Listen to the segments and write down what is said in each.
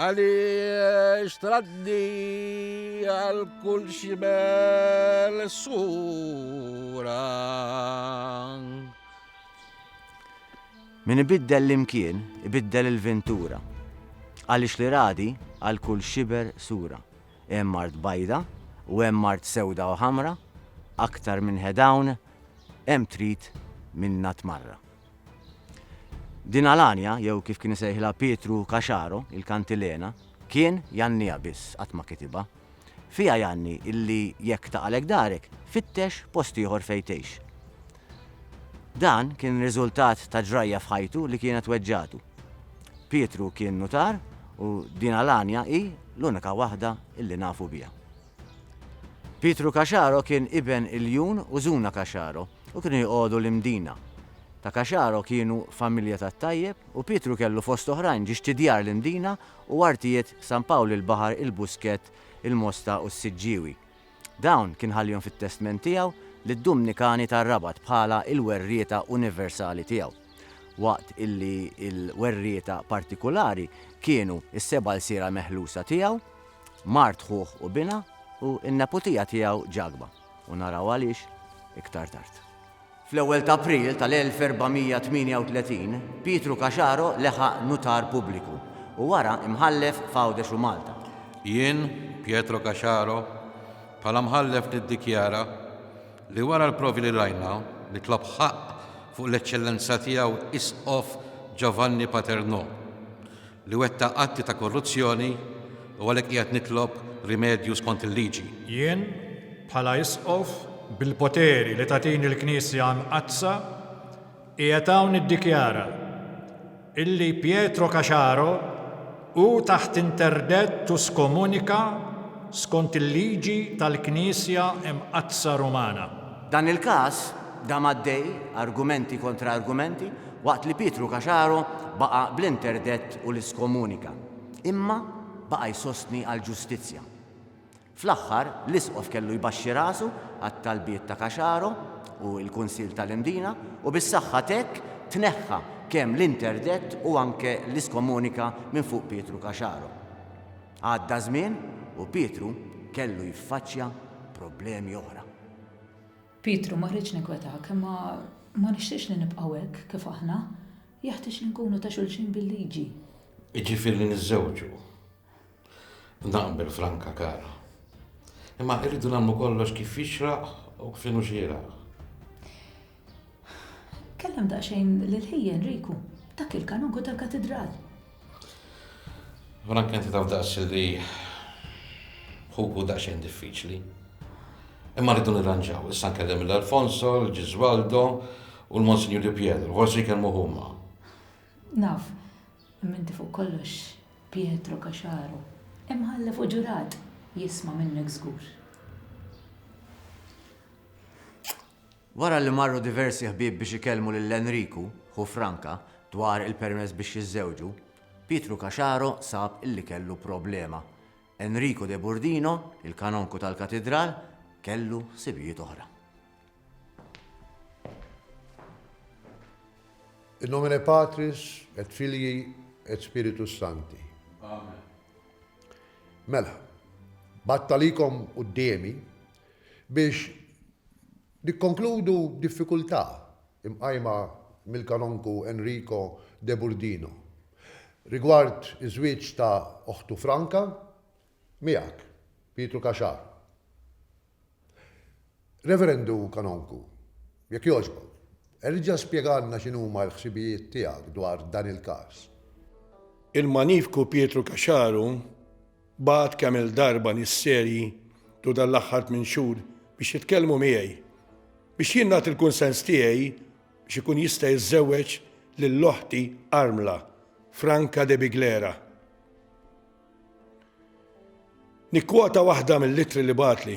Għaliex tradni għal kull xibel sura. Min ibiddel l-imkien, ibiddel il-ventura. Għaliex li radi għal kull xiber sura. Hemm art bajda u hemm art sewda u ħamra, aktar minn head hawn hemm trid minnha tmarra. Din Alania, jew kif kien isejħilha Pietru Caxaro, il-kantilena, kien jgħanniha biss, qatt ma kitibha. Fiha jgħanni illi jekk taqalek darek, fittex post ieħor fejn tgħix. Dan kien riżultat ta' ġrajja f'ħajtu li kienet weġġagħtu. Pietru kien nutar u din Alania hi l-unika waħda illi nafu biha. Pietru Caxaro kien iben Iljun u Zuna Caxaro u kienu joqogħdu l-Imdina. Ta' Caxaro kienu familja tat-tajjeb u Pietru kellu fost oħrajn ġiex t'Idjar l-Imdina u artijiet San Pawl il-Baħar, il-Buskett, il-Mosta u s-Siġġiewi. Dawn kien ħallihom fit-testment tiegħu lid-Dumnikani tar-Rabat bħala l-werrieta universali tiegħu. Waqt illi l-werrieta partikulari kienu s-seba' lsiera meħlusa tiegħu, mart ħuh u binha u n-neputija tiegħu Ġagba, u naraw għaliex iktar tard. Fl-ewwel ta' April tal-1438, Pietru Caxaro leħaq nutar pubbliku u wara imħallef f'Għawdex u Malta. Jien, Pietro Caxaro, bħala mħallef niddikjara li wara l-provi li rajna, nitlob ħaqq fuq l-Eċċellenza Tiegħu Isqof Giovanni Paternò li wettaq atti ta' korruzzjoni u għalhekk qiegħed nitlob rimedju skont il-liġi. Jien, bħala Isqof, bil-poteri li tagħtini l-Knisja Mqaddsa, qiegħed hawn niddikjara illi Pietro Caciaro hu taħt interdett u skomunika skont il-liġi tal-Knisja Mqaddsa Rumana. Dan il-każ dam għaddej, argumenti kontra argumenti, Waqt li Pietru Caciaro baqa' bl-interdett u l-iskomunika, imma baqa' jsostni għall-ġustizzja. Fl-aħħar, l-Isqof kellu jbaxxi rasu għat-talbiet ta' Caciaro u l-Kunsill tal-Imdina u bis-saħħa t'hekk tneħħa kemm l-interdett u anke l-iskomunika minn fuq Pietru Caciaro. Għadda żmien u Pietru kellu jiffaċċja problemi oħra. Pietru ma rridx ninkwetak, imma ma nixtieqx li nibqgħu hekk kif aħna. Jeħtieġ li nkunu ta' xulxin bil-liġi. Jiġifieri li niżżewġu. Naqbel, Franka kara. Imma irridu nagħmlu kollox kif jixraq u kif inhu xieraq. Kellem daqsxejn lil ħijien Riku, dak il-kanonku tal-katidral. Frank inti taf daqs li ħuku daqsxejn diffiċli. Imma rridu nirranġaw, issa nkellem l-Alfonso, l-Ġizwaldo u l-Monsignor Di Pietro, forsi jkellmu huma. Naf, minti fuq kollox Pietro Kaxaru, imħallef u ġurat jisma' minnek żgur. Wara li marru diversi ħbieb biex ikellmu lil Enriku, ħu Franca, dwar il-permess biex jiżżewġu, Pietru Caciaro sab li kellu problema. Enriku de Burdino, il-kanonku tal-katidral, kellu ħsibijiet oħra. In nomine Patris et Filii et Spiritus Sancti. Amen. Mela, battalikom qudiemi Biex nikkonkludu b'diffikultà mqajma mill-Kanonku Enrico De Burdino rigward iż-żwieġ ta' oħtu Franca miegħek, Pietru Caxar. Reverendu Kanonku, jekk jogħġbok, erġa' spjegalna x'inhuma l-ħsibijiet tiegħek dwar dan il-każ. Il-Magnifiku Pietru Caxar hu Bagħat kemm-il darba nies serji tul dan l-aħħar tmien xhur biex jitkellmu miegħi, biex jien nagħti l-kunsens tiegħi biex ikun jista' jiżżewweġ lil oħti armla, Franca De Biglera. Nikkwota waħda mill-ittri li bagħatli.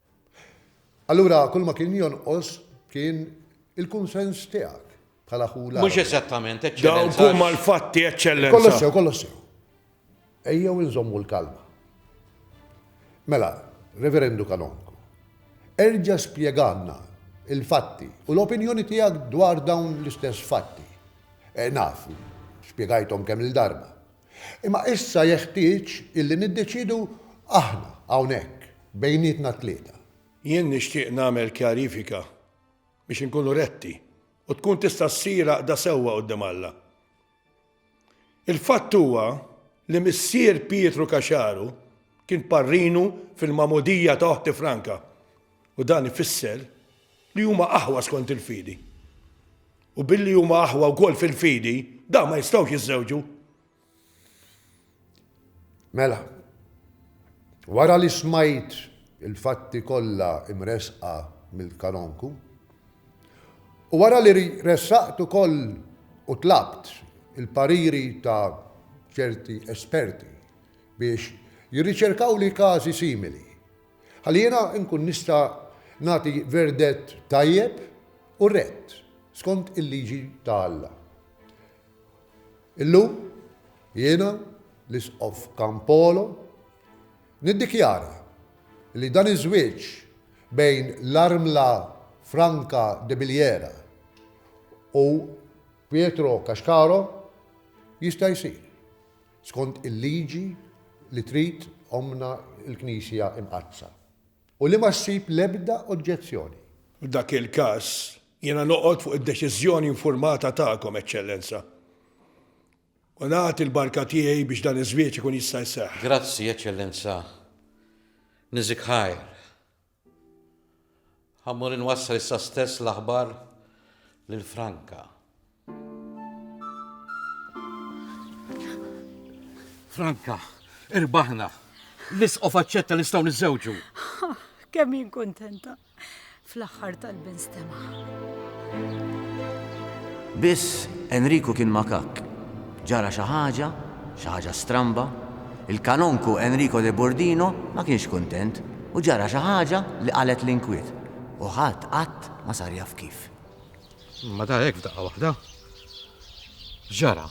Allura kulma kien jonqos kien il-kunsens tiegħek bħala ħu l-Mhux eżattament, Eċċellenza. Dawk huma l-fatti, Eċċellenza. Kollox sew, kollox sew. Ejjew inżommu l-kalma. Mela, Reverendu Kanonku, erġa' spjeganna il-fatti u l-opinjoni tiegħek dwar dawn l-istess fatti. E, naf, spjegajthom kemm il-darba. Imma issa jeħtieġ illi niddeċiedu aħna hawnhekk bejnietna t-tlieta. Jien nixtieq nagħmel kjarifika biex inkunu retti u tkun tista' ssir għaqda sewwa quddiem Alla. Il-fatt huwa li missier Pietru Caxaru kien parrinu fil-magħmudija ta' oħti Franca. U dan ifisser li huma aħwa skont il-fidi. U billi huma aħwa wkoll fil-fidi, da ma jistgħux jiżżewġu. Mela, wara li smajt il-fatti kollha imresqa mill-kanonku, u wara li ressaqt ukoll u tlabt il-pariri ta' ċerti esperti biex jirriċerkaw li każi simili Ħalli jiena nkun nista' nagħti verdett tajjeb u rett, skont il-liġi ta' Alla. Illum, jiena, l-Isqof Campolo, niddikjara li dan iż-żwieġ bejn l-armla Franca Debilliera u Pietro Cascaro jista' jsir. Skont il-liġi li trid ommna l-Knisja Imqaddsa. U li ma ssib l-ebda oġġezzjoni. F'dak il-każ, jiena noqgħod fuq id-deċiżjoni infurmata tagħkom, Eċċellenza, u nagħti l-barka tiegħi biex dan iż-żwieġ ikun jista' jseħħ. Grazzi, Eċċellenza. Niżikħajr. Ħa mmur inwassal issa stess l-aħbar lil Franka. Franka, irbaħna. L-isqof aċċetta nistgħu niżżewġu. Kemm jien kuntenta. Fl-aħħar tal-bin stema. Biss Enriku kien makak. Ġara xi ħaġa, xi ħaġa stramba. Il-Kanonku Enrico de Bordino ma kienx kuntent u ġara xi ħaġa li qalgħet l-inkwiet u ħadd qatt ma sar jaf kif. Imma dar hekk f'daqqa waħda. X'ġara?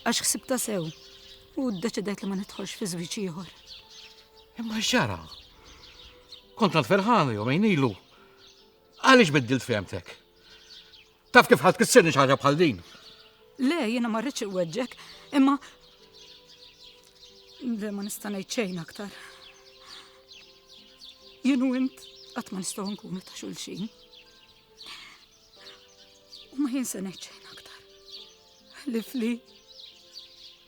Għax ħsibtha sew u ddeċidejt li ma nidħolx fi żwieġ ieħor. Imma x'ġara? Kont tant ferħana jumejn ilu. Għaliex biddilt fehmtek? Taf kif ħadd kissirni xi ħaġa bħal din? Le, jiena ma rridx iweġġek, imma Le ma nista' ngħid xejn aktar. Jien u int qatt ma nistgħu nkunu ta' xulxin. U ma jien se ngħid xejn aktar. Ħlifli.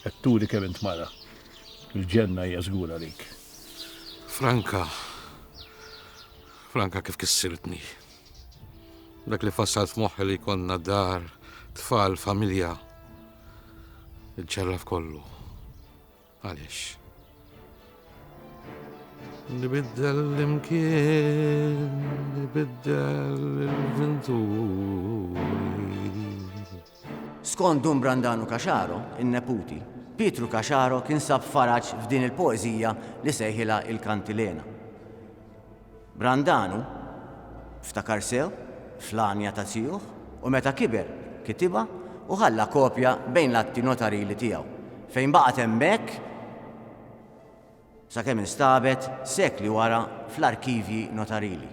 Qed turi kemm int mara. Il-ġenna hija żgur għalik. Franka. Franka kif kissirtni. Dak li fassalt f'moħħi li konna dar, tfal, familja. Iġġarraf kollu. Għaliex? Nibiddel l-imkien, nibiddel l-venturi. Skont Dun Brandanu Caxaro, in-neputi, Pietru Caxaro kien sab faraġ f'din il-poeżija li sejħilha Il-Kantilena. Brandanu ftakar sew fl-għanja ta' zijuh u meta kiber kitibha u ħalla kopja bejn l-atti notarili tiegħu, fejn baqgħet hemmhekk sakemm instabet sekli wara fl-arkivji notarili.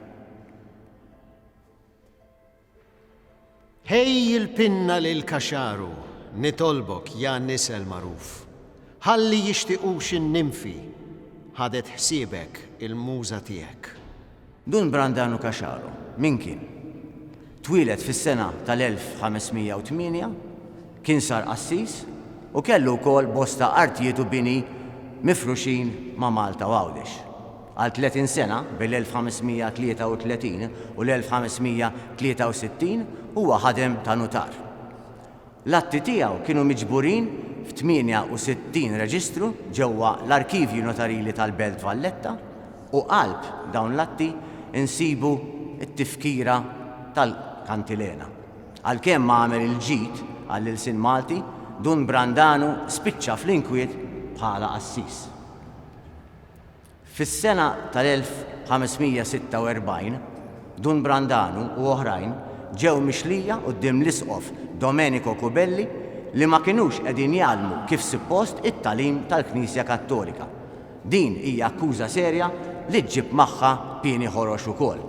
Ħej il-pinna lil Kaxaru, nitolbok, ja nisel magħruf, ħalli jixtiqux in-nimfi, ħadet ħsiebek il-muża tiegħek. Dun Brandanu Kaxaru, min kien? Twieled fis-sena tal-1508, kien sar qassis u kellu wkoll bosta artijiet u bini mifruxin ma' Malta u Għawdex. Għal 30 sena, bejn l-1533 u l-1563, huwa ħadem ta' nutar. L-atti tiegħu kienu miġburin f'68 reġistru ġewwa l-arkivji notarili tal-Belt Valletta u qalb dawn l-atti nsibu t-tifkira tal-kantilena. Għalkemm ma għamel il-ġid għall-ilsien Malti, Dun Brandanu spiċċa fl-inkwiet bħala qassis. Fis-sena tal-1546, Dun Brandanu u oħrajn ġew mixlija quddiem l-Isqof Domenico Cubelli li ma kinux qegħdin jgħallmu kif suppost it-tagħlim tal-Knisja Kattolika. Din hija akkuża serja li ġġib magħha pieni ħorox ukoll.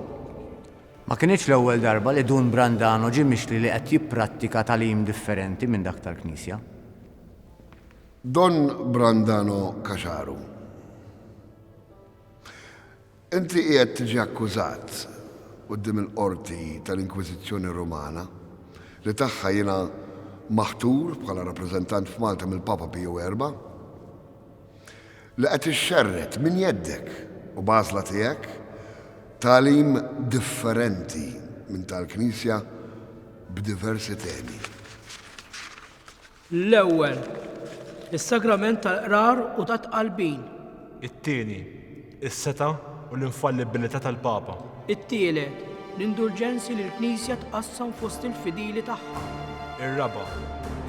Ma kinitx l-ewwel darba li Dun Brandanu ġie mixli li qed jipprattika tagħlim differenti minn dak tal-Knisja. Don Brandano Caxaru, Inti qiegħed tiġi akkużat quddiem il-Qorti tal-Inkwiżizzjoni Rumana, li tagħha jiena maħtur bħala rappreżentant f'Malta mill-Papa Piju Erba', li qed ixxerred minn jeddek u b'għażla tiegħek tagħlim differenti minn tal-Knisja b'diversi temi. L-ewwel, is-sagrament tal-qrar u tat-tqalbin. It-tieni, is-setgħa u l-infallibbilità tal-Papa. It-tielet, l-indulġenzi li l-Knisja tqassam fost il-fidili tagħha. Ir-raba',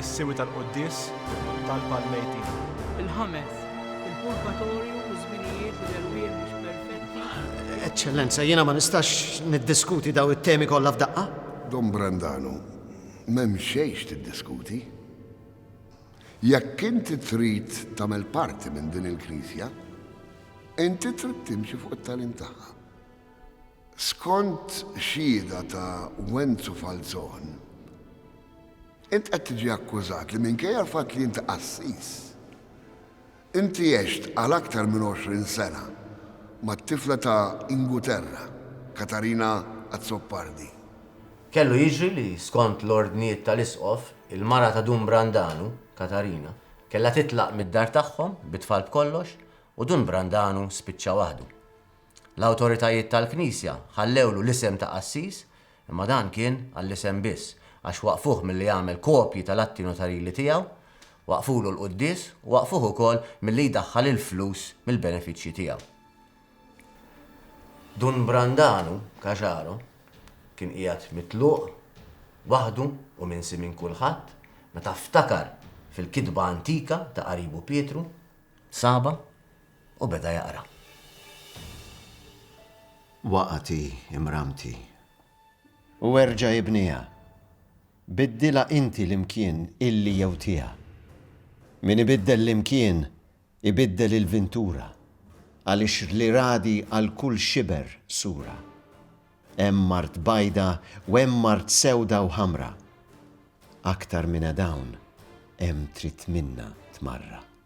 is-siwi tal-quddies u t-talb għall-mejtin. Il-ħames, il-purgatorju u ż-żminijiet li l-erwieħ mhux perfetti. Eċċellenza, jiena ma nistax niddiskuti dawn it-temi kollha f'daqqa. Dom Brandanu, M'hemm xejn x'tiddiskuti. Jekk inti trid tagħmel parti minn din il-Knisja, inti trid timxi fuq it-tagħlim tagħha. Skont xhieda ta' Wenzu Falzon, int qed tiġi akkużat li minkejja l-fatt li inti qassis, Inti għext għal aktar minn 20 sena mat-tifla ta' Inguterra, Katarina Azzopardi. Kellu jiġri li, skont l-ordnijiet tal-Isqof, il-mara ta' Dun Brandanu, Katarina, kellha titlaq mid-dar tagħhom bit-tfal b'kollox u Dun Brandanu spiċċa waħdu. L-awtoritajiet tal-Knisja ħallewlu l-isem ta' qassis Imma dan kien għall-isem biss, għax waqqfuh milli jagħmel kopji tal-atti notarili tiegħu, waqqfulu l-quddies u waqqfuh ukoll milli jdaħħal il-flus mill-benefiċċji tiegħu. Dun Brandanu, Caxaro, kien qiegħed mitluq, waħdu u minsi minn kulħadd, meta ftakar fil-kitba antika ta' qaribu Pietru, Saba, u beda jaqra. Waqgħet hi, imramti. U erġa' ibniha. Biddilha inti l-imkien illi jew tiha. Min ibiddel l-imkien, ibiddel il-vintura, għaliex li ragħdi għal kull xiber sura. Hemm art bajda u hemm art sewda u ħamra. Aktar mina dawn hemm trid minna tmarraq.